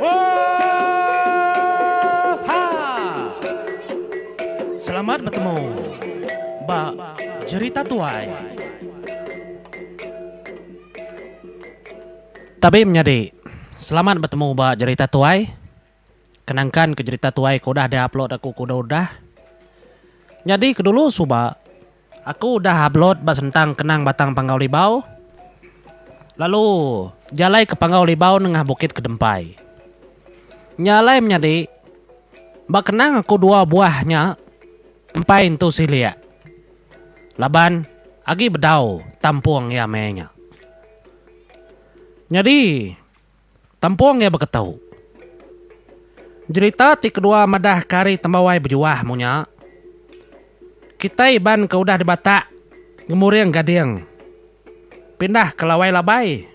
Oohhha! Selamat betemu ba jerita tuai. Tabi menyadi, selamat betemu ba jerita tuai. Kenangkan ke jerita tuai ke udah diupload aku ke udah-udah. Nyadi ke dulu suba. Aku udah upload ba sentang kenang Batang Panggau Libau lalu jalai ke Panggau Libau nengah Bukit Kedempai. Nya alai menyadi ba kenang aku dua buah nya empai entu silik laban agi bedau tampung iya meh nya. Nyadi. Tempung iya beketu. Jerita ti kedua madah ke ari tembawai bejuah mung nya. Kitai Iban ke udah dibatak ngemuring gading pindah ke lawai labai.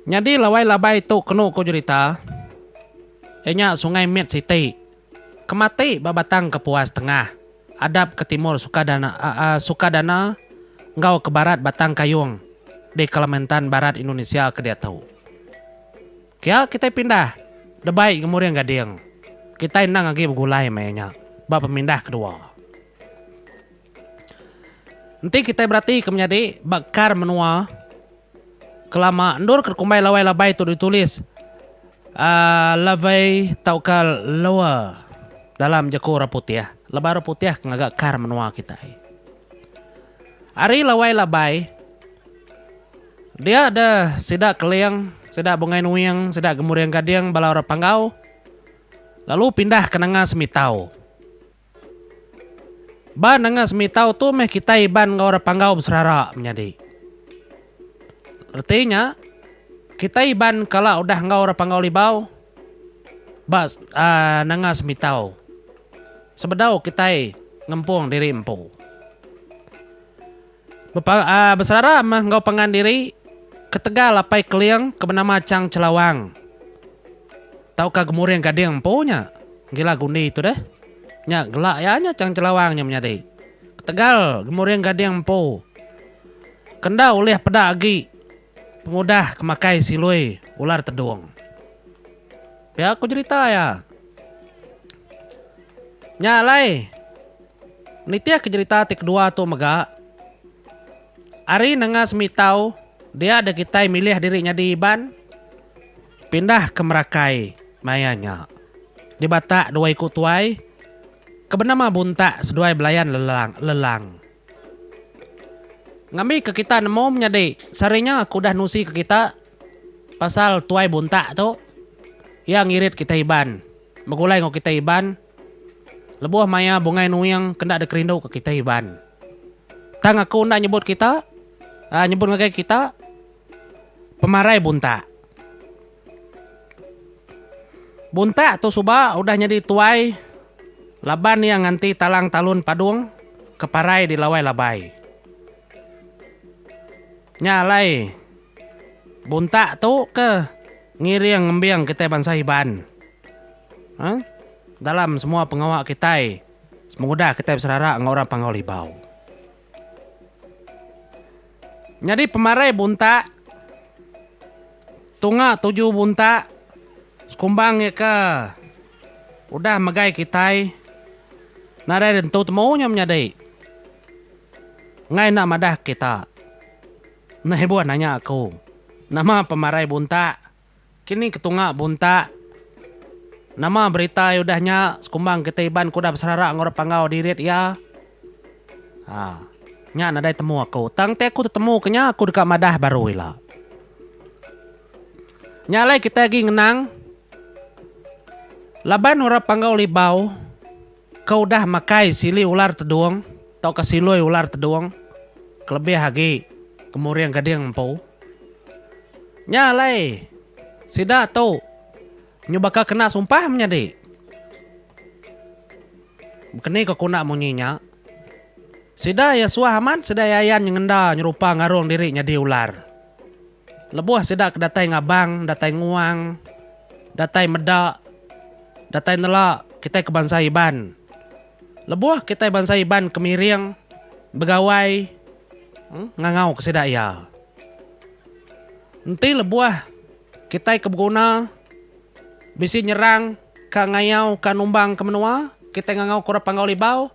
Nyadi lawai labai tu kenu ku jerita iya nya Sungai Mit siti. Ke mati ba Batang Kepuas Tengah, adap ke timur Sukadana Sukadana enggau ke barat Batang Kayong di Kalimantan Barat Indonesia ke diatu. Pia kitai pindah Debai Gemuring Gading, kitai endang agi begulai maya nya ba pemindah kedua. Enti kitai beratika menyadi ba kar menua kelama endorka dikumbai labai-labai tu ditulis aaa lovey tauka lower dalam jeku orang putih. Laban orang putih ke ngaga kar menua kitai. Ari labai-labai dia da sida keling, sida bungai nuing, sida gemuring gading bala orang panggau lalu pindah ke nanga semitau. Ba nengah semitau tu meh kitai Iban enggau orang Panggau beserara menyadi. Reti nya, kitai Iban kala udah enggau orang Panggau Libau ba nengah semitau sebedau kitai ngempung diri empu. Beserara meh enggau pangan diri ketegal apai Keling ke benama Chang Chelawang tauka Gemuring Gading empu nya gila gundi tu deh. Nya gelak iya nya Chang Chelawang nya menyadi ketegal Gemuring Gading empu ke enda ulih peda agi pengudah ke makai silui ular tedung. Pia ku jerita iya. Nya alai. Nitihka jerita ti kedua tu mega, Ari nengah semitau dia deh kitai milih diri nyadi Iban pindah ke Merakai maya nya. Di Batak dua iku tuai ke benama Buntak seduai belayan Lelang. Ngambika kita nemu menyadi sehari nya aku udah nusika kita pasal Tuai Buntak tu, iya ngirit kitai Iban, begulai enggau kitai Iban. Lebuh maya bungai nuing ke enda ada kerindu ke kitai Iban. Tang aku enda nyebut kita uhh nyebut ngagai kita pemarai buntak. Buntak tu suba udah nyadi tuai laban iya nganti talang talun padung ke parai di lawai labai. Nya alai buntak tu ke ngiring ngembing kitai bansa Iban. Hang dalam semua pengawa kitai semengudah kitai beserara enggau orang Panggau Libau. Nyadi pemarai buntak tunga tuju buntak sekumbang iya ke udah megai kitai nadai nentu temu nya menyadi enggai enda madah kita. Nehbun nanya aku nama pemarai buntak Kini ketunga buntak, nama beritai udah nya sekumbang kita Iban ke udah beserara enggau orang Panggau dirit iya? Haa, nya nadai temu aku. Tang enti aku tetemuka nya aku deka madah baru ila. Nya alai kitai agi ngenang laban orang Panggau Libau. Ke udah makai sili ular tedung tauka siloi ular tedung kelebih agi kemuring gading empu. Nya alai sida tu nyubaka kena sumpah menyadi. Bekeni ke kunda munyi nya, sida iya suah amat sida iya ayan nyengenda nyerupa ngarung diri nyadi ular. Lebuh sida ke datai ngabang, datai nguang, datai meda, datai nela kitai ke bansa Iban. Lebuh kitai bansa Iban ke miring begawai ngangauka sida iya. Enti lebuh kitai ke beguna bisi nyerang ka ngayau ka numbang ka menua, kitai ngangau ka orang Panggau Libau,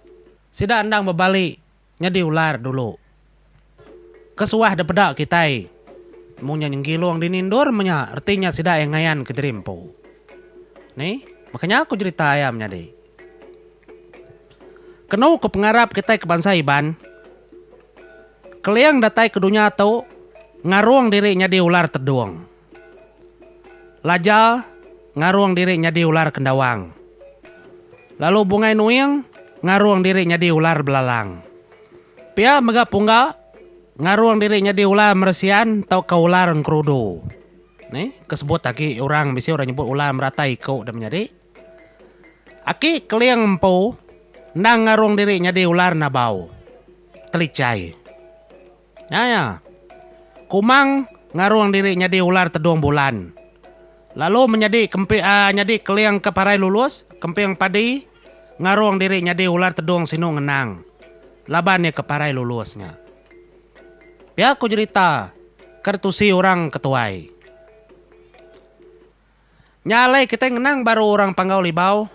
sida endang bebali. Nyadi ular dulu. Kesuah depeda kitai. Mung nya nyenggilung dini endur meh nya reti nya sida ai ngayan ke jadi empu. Ni, baka nya ku jerita iya menyadi. Kenu ku pengarap kitai ke bansa Iban, Keling datai ke dunya tu ngarung diri nyadi ular tedung. Lajal ngarung diri nyadi ular kendawang. Lalu Bungai Nuing ngarung diri nyadi ular belalang. Pia mega Pungga ngarung diri nyadi ular meresian tauka ular engkerudu. Ni ke sebut agi orang bisi orang nyebut ular meratai iku dia menyadi. Aki Keling empu endang ngarung diri nyadi ular nabau, Telichai. Nya iya, Kumang ngarung diri nyadi ular tedung bulan, lalu menyadi kempi nyadi keling ke parai lulus, Kemping Padi ngarung diri nyadi ular tedung sinu ngenang laban iya ke parai lulus nya. Pia ku jerita Kertusi Orang ke Tuai. Nya alai kitai ngenang baru orang Panggau Libau.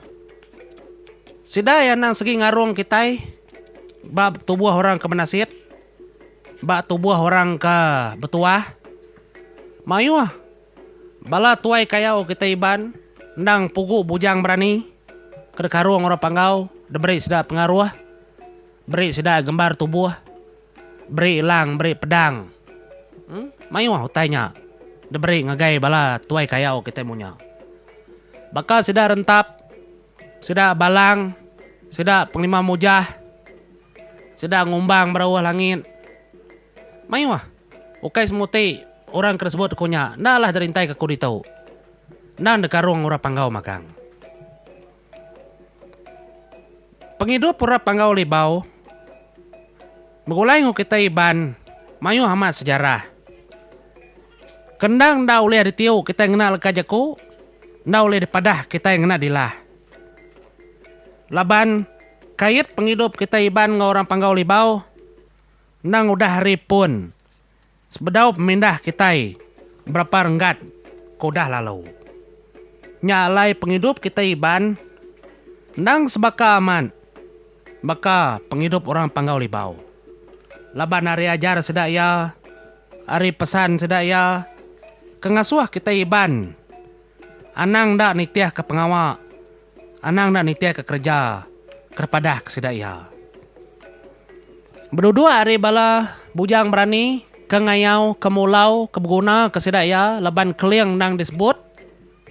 Sida iya endang segi ngarung kitai ba tubuh orang ke menasit, ba tubuh orang ke betuah. Mayuh bala tuai kayau kitai Iban endang pugu bujang berani ke dikarung orang Panggau diberi sida pengaruh, beri sida gembar tubuh. Beri elang beri pedang. Mayuh utai nya diberi ngagai bala tuai kayau kitai munya. Baka sida rentap, sida balang, sida pengelima mujah, sida ngumbang berauh langit. Mayuh. Ukai semua ti orang ke disebut aku nya enda lah jerintai ke aku ditu. Endang dikarung orang panggau magang. Pengidup Orang Panggau Libau begulai enggau kitai Iban mayuh amat sejarah. Ke endang enda ulih ditiu kitai ngena leka jaku, enda ulih dipadah kitai ngena dilah. Laban kait pengidup kitai Iban enggau Orang Panggau Libau endang udah hari pun Sebedau pemindah kitai berapa renggat ke udah lalu. Nya alai pengidup kitai Iban endang sebaka amat baka pengidup orang Panggau Libau. Laban ari ajar sida iya, ari pesan sida iya ke ngasuh kitai Iban anang enda nitihka pengawa. Anang enda nitihka kereja ke dipadah ke sida iya. Beduduk ari bala bujang berani ke ngayau ke mulau ke beguna ke sida iya laban keling endang disebut,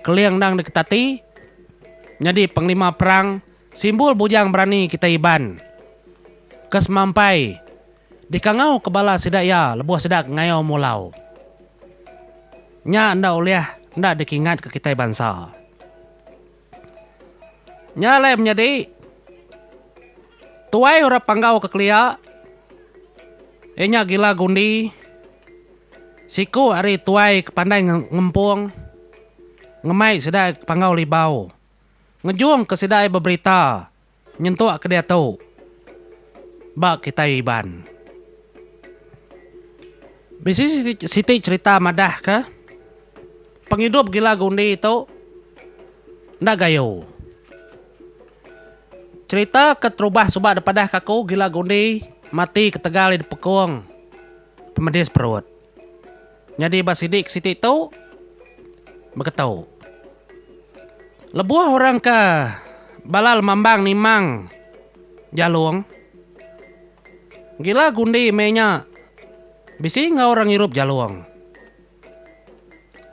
keling endang diketati nyadi pengelima perang simbul bujang berani kitai Iban ke semampai dikangauka bala sida iya lebuh sida ke ngayau mulau. Nya enda ulih enda dikingatka kitai bansa. Nya alai menyadi tuai orang Panggau ke kelia iya nya Gila Gundi siku ari tuai ke pandai ngempung ngemai sida Panggau Libau ngejung ke sida beberita. Nyentuk ke diatu ba kitai Iban. Bisi siti cherita madah ke pengidup gila gundi tu enda gayu. Cherita ke terubah suba dipadah ke aku gila gundi mati ketegal iya dipekung pemedis perut. Nyadi ba sidi ke siti tu beketu. Lebuh orang ke balal mambang nimang jalung gila gundi meh nya bisi enggau orang ngirup jalung.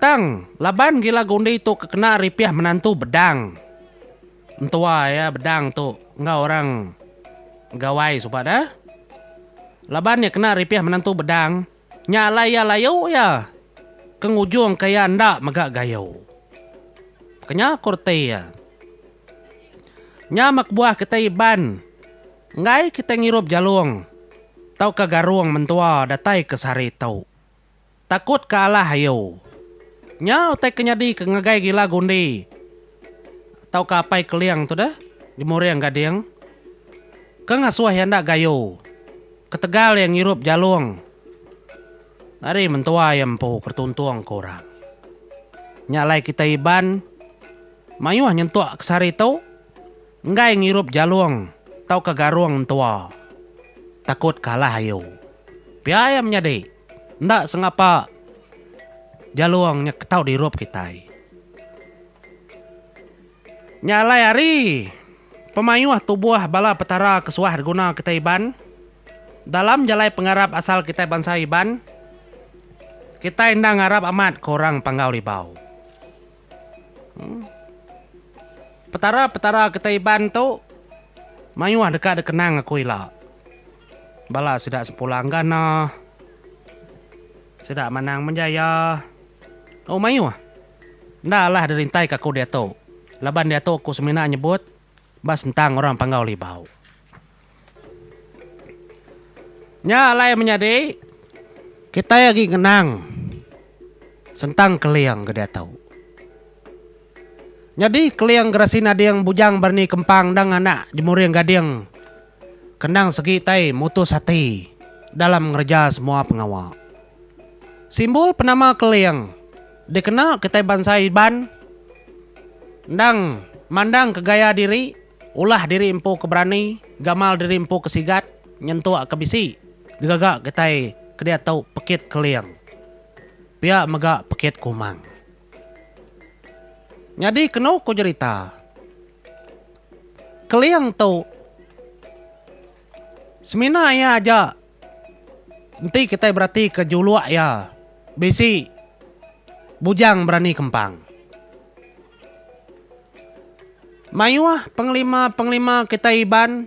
Tang laban gila gundi tu ke kena ripih menantu bedang entua iya bedang tu enggau orang Gawai suba da. Laban iya kena ripih menantu bedang. Nya alai iya layu iya. Ke ngujung ke iya enda mega gayu. Kenya ku reti iya. Nya meh kebuah kitai Iban enggai kitai ngirup jalung tauka garung mentua datai ke sehari tu. Takut ke alah ayu. Nya utai ke nyadi ke ngagai gila gundi tauka apai keling tu deh, Jemuring Gading, ke ngasuh iya enda gayu. Ketegal iya ngirup jalung ari mentua iya empu ke tuntung ke orang. Nya alai kitai Iban mayuh nyentuk ke sehari tu enggai ngirup jalung tauka garung entua takut kalah ayu. Pia iya menyadi enda sengapa jalung nya ke tau dirup kitai. Nya alai ari pemayuh tubuh bala Petara ke suah diguna kitai Iban dalam jalai pengarap asal kitai bansa Iban, kitai enda ngarap amat ke orang Panggau Libau. Em. Petara-petara kitai Iban tu mayuh deka dikenang aku ila. Bala sida Sempulang Gana, sida Manang Menjaya, oh mayuh. Enda alah dirintai ka aku diatu, laban diatu ku semina nyebut ba sentang orang panggau libau. Nya alai menyadi kitai agi ngenang sentang Keling ke diatu. Nyadi Keling gerasi nading bujang berani kempang endang anak jemuring gading ke endang segi tai mutus ati dalam ngereja semua pengawa. Simbol penama Keling. Dikena kitai bansa Iban endang mandang ke gaya diri, ulah diri empu ke berani, gamal diri empu ke sigat, nyentuk ke bisi digaga kitai ke diatu Pekit Keling pia mega Pekit Kumang. Nyadi kenu ku jerita, Keling tu semina iya aja. Enti kitai beratika juluk iya, bisi bujang berani kempang. Mayuh pengelima-pengelima kitai Iban,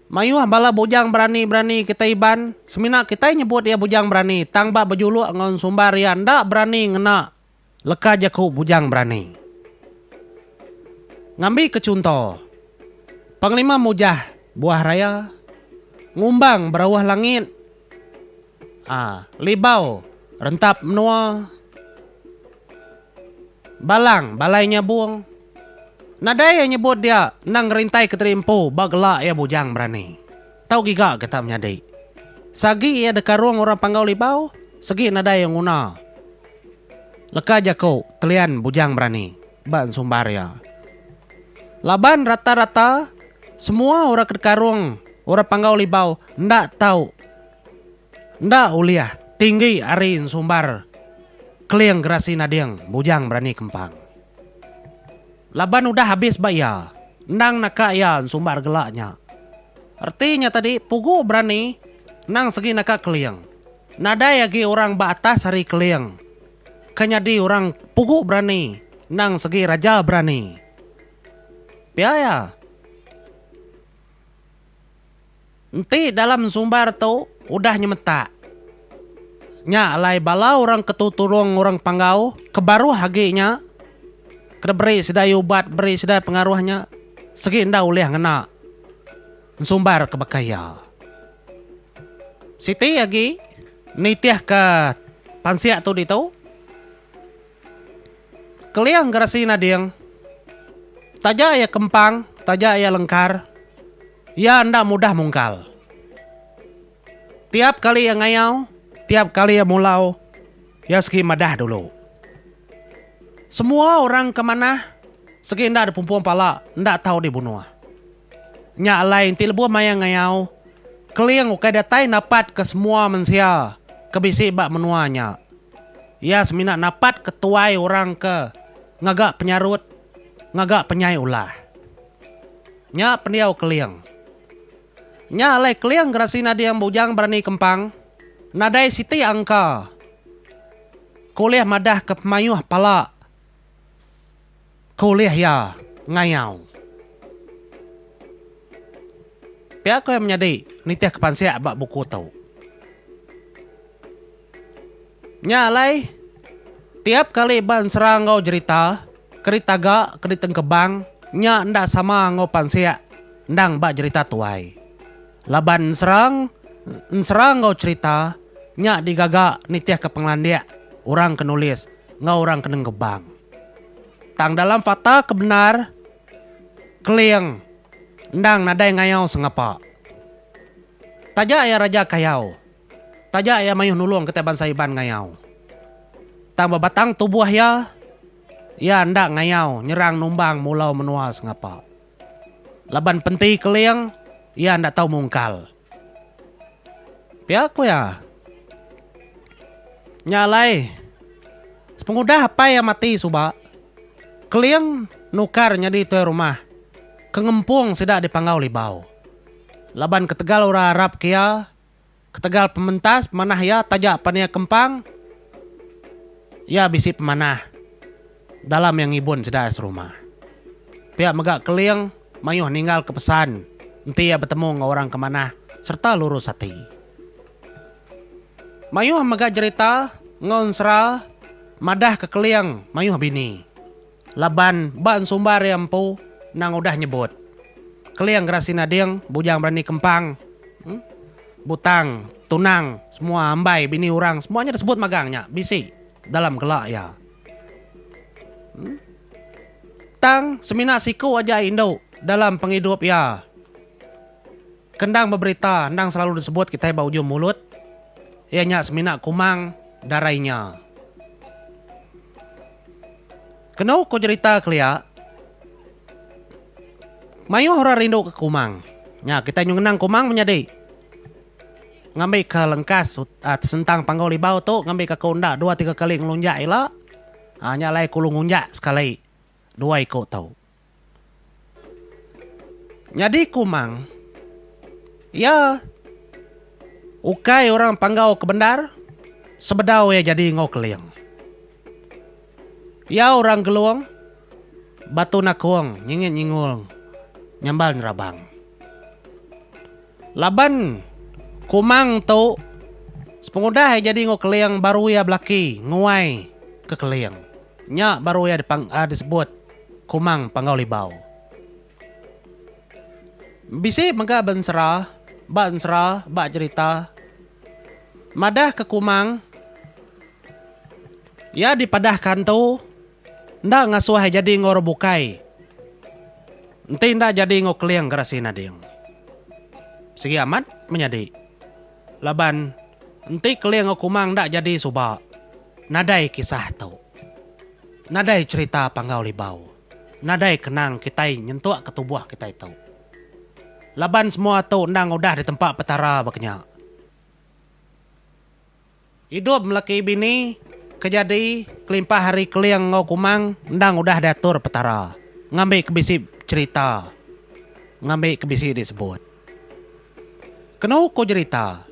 mayuh bala bujang berani-berani kitai Iban, semina kitai nyebut iya bujang berani tang ba bejuluk enggau sumbar iya enda berani ngena Leka jaku Bujang Berani. Ngambika chunto, Panglima mujah buah raya, ngumbang berauh langit, libau rentap menua, balang balai nyabung. Nadai iya nyebut dia endang ngerintaika tadi empu ba gela iya Bujang Berani. Tau giga kita menyadi. Sagi iya dekarung orang panggau libau, segi nadai nguna. Leka jaku Telian Bujang Berani ba ensumbar iya. Laban rata-rata semua orang ke dekarung orang panggau libau enda tau enda ulih tinggi ari ensumbar Keling Gerasi Nading Bujang Berani Kempang. Laban udah habis ba iya, endang naka iya ensumbar gela nya. Reti nya tadi pugu berani endang segi naka keling. Nadai agi orang ba atas ari keling ke nyadi orang pugu berani endang segi raja berani. Pia iya. Enti dalam ensumbar tu udah nyemetak, nya alai bala orang ke tutulung orang panggau ke baruh agi nya ke diberi sida ubat beri sida pengaruh nya segi enda ulih ngena ensumbar ke baka iya. Siti agi nitihka pansik tu ditu, Keling gerasi nading, taja iya kempang, taja iya lengkar. Iya enda mudah mungkal. Tiap kali iya ngayau, tiap kali iya mulau, iya segi madah dulu. Semua orang ke manah segi enda dipumpung pala enda tau dibunuh. Nya alai enti lebuh maya ngayau, Keling ukai datai napatka semua mensia ke bisi ba menua nya. Iya semina napatka tuai orang ke ngaga penyarut, ngaga penyai ulah. Nya pendiau Keling. Nya alai Keling gerasi nading Bujang Berani Kempang nadai siti angka ke ulih madahka pemayuh pala ke ulih iya ngayau. Pia ko iya menyadi nitihka pansik ba buku tu. Nya alai, tiap kali ba ensera enggau jerita, ke ditaga, ke ditengkebang, nya enda sama enggau pansik endang ba jerita tuai. Laban ensera ensera enggau cherita nya digaga nitihka pengelandik orang ke nulis enggau orang ke nengkebang. Tang dalam fakta ke bendar, Keling endang nadai ngayau sengapa. Taja iya raja kayau. Taja iya mayuh nulung kitai bansa Iban ngayau. Tang ba batang tubuh iya, iya enda ngayau nyerang numbang mulau menua sengapa. Laban penti keling, iya enda tau mungkal. Pia ku iya. Nya alai, sepengudah apai iya mati suba, Keling nukar nyadi tuai rumah ke ngempung sida di Panggau Libau. Laban ketegal orang Arab ke iya Ketegal pementas pemanah iya taja Pania Kempang, iya bisi pemanah dalam iya ngibun sida serumah. Pia mega Keling mayuh ninggalka pesan enti iya betemu enggau orang ke manah sereta lurus ati. Mayuh mega jerita enggau ensera madahka Keling mayuh bini Laban ba ensumbar iya empu endang udah nyebut, Keling gerasi nading, bujang berani kempang, butang, tunang, semua ambai bini orang semua nya disebut magang nya bisi dalam gela iya. Tang semina siku aja indu dalam pengidup iya ke endang beberita endang selalu disebut kitai ba ujung mulut iya nya semina Kumang darai nya. Kenu ku jerita kelia, mayuh orang rindu ke kumang. Nya, kitai nyu ngenang kumang menyadi ngambika lengkas sentang panggau libau tu ngambika ke unda dua tiga kali ngelunjak ila. Nya alai ku lu ngunjak sekali dua iku tu. Nyadi Kumang iya ukai orang Panggau ke bendar sebedau iya jadi enggau Keling. Iya orang Gelong, Batu Nakong, Nyingit Nyingong, Nyambal Nyerabang. Laban Kumang tu sepengudah iya jadi enggau Keling baru iya belaki nguai ke Keling. Nya baru iya disebut. Kumang Panggau Libau. Bisi mega bensera ba ensera ba jerita madah ke Kumang iya dipadah ka entu enda ngasuh iya jadi enggau orang bukai enti enda jadi enggau Keling Gerasi Nading. Sigi amat menyadi. Laban, enti Keling enggau Kumang enda jadi suba, nadai kisah tu. Nadai cherita Panggau Libau. Nadai kenang kitai nyentuk ke tubuh kitai tu. Laban semua tu endang udah ditempa Petara ba kenya. Idup meleki bini ke jadi kelimpah ari Keling enggau Kumang endang udah diatur Petara ngambi ke bisi cherita ngambi ke bisi disebut. Kenu ku jerita,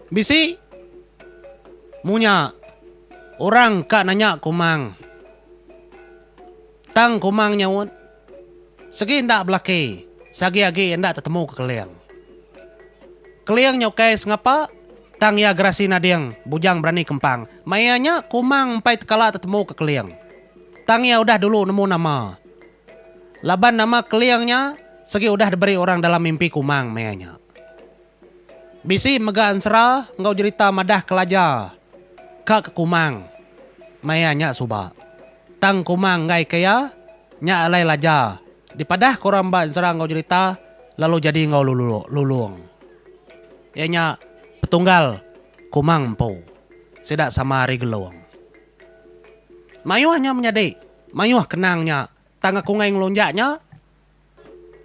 bisi munya orang ka nanya Kumang tang Kumang nyaut. Segi enda belaki, sagi agi enda tetemu ke Keling. Keling nya ukai sengapa, tang iya gerasi nading bujang berani kempang. Mai iya nya, Kumang empai tekala tetemu ke Keling. Tang iya udah dulu nemu nama. Laban nama Keling nya segi udah diberi orang dalam mimpi Kumang mai iya nya. Bisi mega ensera enggau jerita madah kelaja ka ke Kumang maya nya suba. Tang Kumang enggai ka iya, nya alai laja dipadah ke orang ba ensera enggau jerita lalu jadi enggau Lulong. Iya nya petunggal Kumang empu sida sama ari Gelong. Mayuh nya menyadi mayuh kenang nya tang aku enggai ngelunjak nya.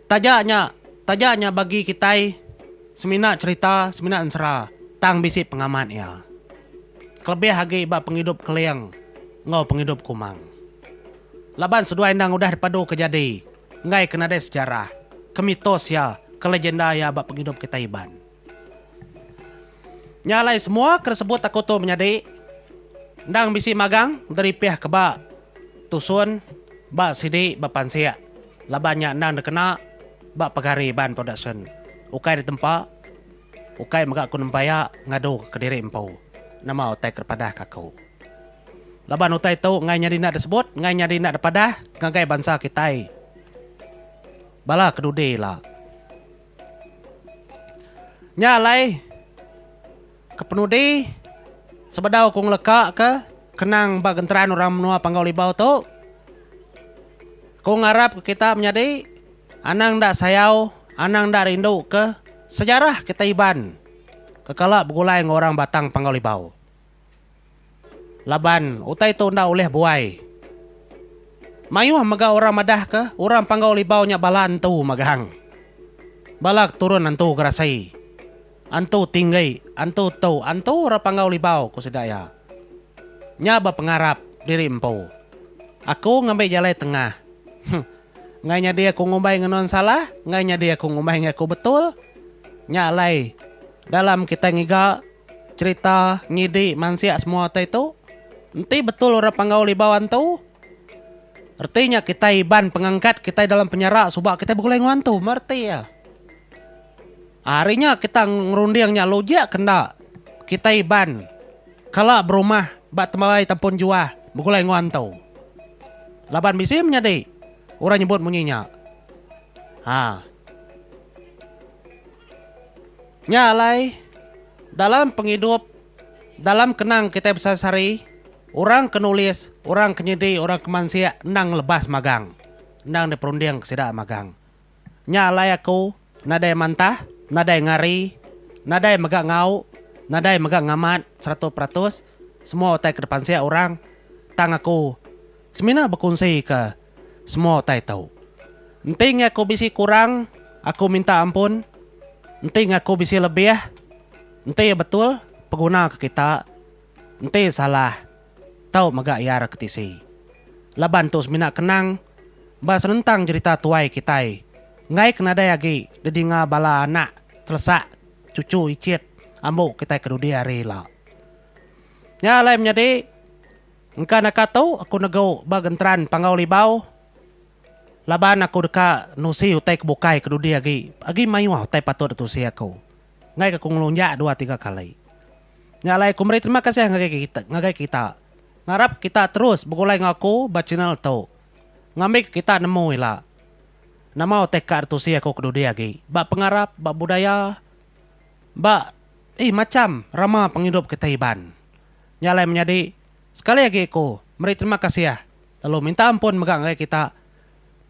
Taja nya, taja nya bagi kitai semina cherita, semina ensera tang bisi pengamat iya. Kelebih agi ba pengidup Keling enggau pengidup Kumang. Laban seduai endang udah dipadu ke jadi enggai ke nadai sejarah, ke mitos iya, ke legenda iya ba pengidup kitai Iban. Nya alai semua ke disebut aku tu menyadi endang bisi magang deripih ke ba tusun ba sidi ba pansik laban nya endang dikena ba pegari Iban Production ukai ditempa ukai mega aku nempeia ngadu ke diri empu nama utai ke dipadah ke aku laban utai tu ngai nyadi enda disebut ngai nyadi enda dipadah ngagai bansa kitai bala kedudi ila. Nya alai kepenudi sebedau ku ngeleka ke kenang ba genteran orang menua Panggau Libau tu ku ngarap ke kita menyadi anang enda sayau anang enda rindu ke sejarah kita Iban ke kala begulai enggau orang Batang Panggau Libau. Laban utai tu enda ulih buai. Mayuh mega orang madahka orang Panggau Libau nya bala Entu Magang. Bala keturun Entu Gerasi, Entu Tinggi, Entu Tu, Entu orang Panggau Libau, ku sida iya. Nya ba pengarap diri empu. Aku ngambi jalai tengah. Huh. Enggai nyadi aku ngumbai ngenun salah, enggai nyadi aku ngumbai enggau aku betul. Nya alai dalam kitai ngiga. Cerita ngidi mansik semua ti tu enti betul orang panggau libau antu reti nya kitai iban pengangkat kitai dalam penjara suba kitai begulai enggau antu meh reti iya. Ari nya kita ngerunding nya logik ke enda kitai iban kala berumah ba tembai tempun juah begulai enggau antu laban bisi menyadi orang nyebut munyi nya. Ha. Nya alai, dalam pengidup, dalam kenang kitai besari-sari, orang ke nulis, orang ke nyidi, orang ke mansik endang lebas magang, endang diperundingka sida magang. Nya alai aku nadai mantah, nadai ngari, nadai mega ngau, nadai mega ngamat seratus peratus semua utai ke dipansik orang tang aku semina bekunsika Semua utai tu. Enting aku bisi kurang, aku minta ampun. Enting aku bisi lebih, enti iya betul, peguna ke kita. Enti iya salah, tau mega iya ra ke tisi. Laban tu semina kenang ba senentang jerita tuai kitai enggai ke nadai agi didinga bala anak telesak cucu icit ambu kitai ke dudi hari ila. Nya alai menyadi. Engka naka tu aku negu ba genteran Panggau Libau laban aku deka nusi utai ke bukai ke dudi agi agi mayuh utai patut ditusi aku. Enggaika aku ngelunjak dua tiga kali. Nya alai aku meri terima kasih ngagai kita ngagai kita. Ngarap kita terus begulai enggau aku ba channel tu ngambika kita nemu ila nama utai ka ditusi aku ke dudi agi ba pengarap ba budaya ba ih macham rama pengidup kita Iban. Nya alai menyadi sekali agi aku meri terima kasih lalu minta ampun mega ngagai kita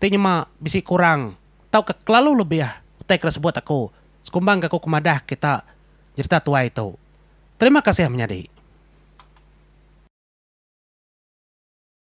ti nyema bisi kurang tauka kelalu lebih utai ke disebut aku sekumbangka aku ke madah kita nyerita tuai tu. Terima kasih menyadi.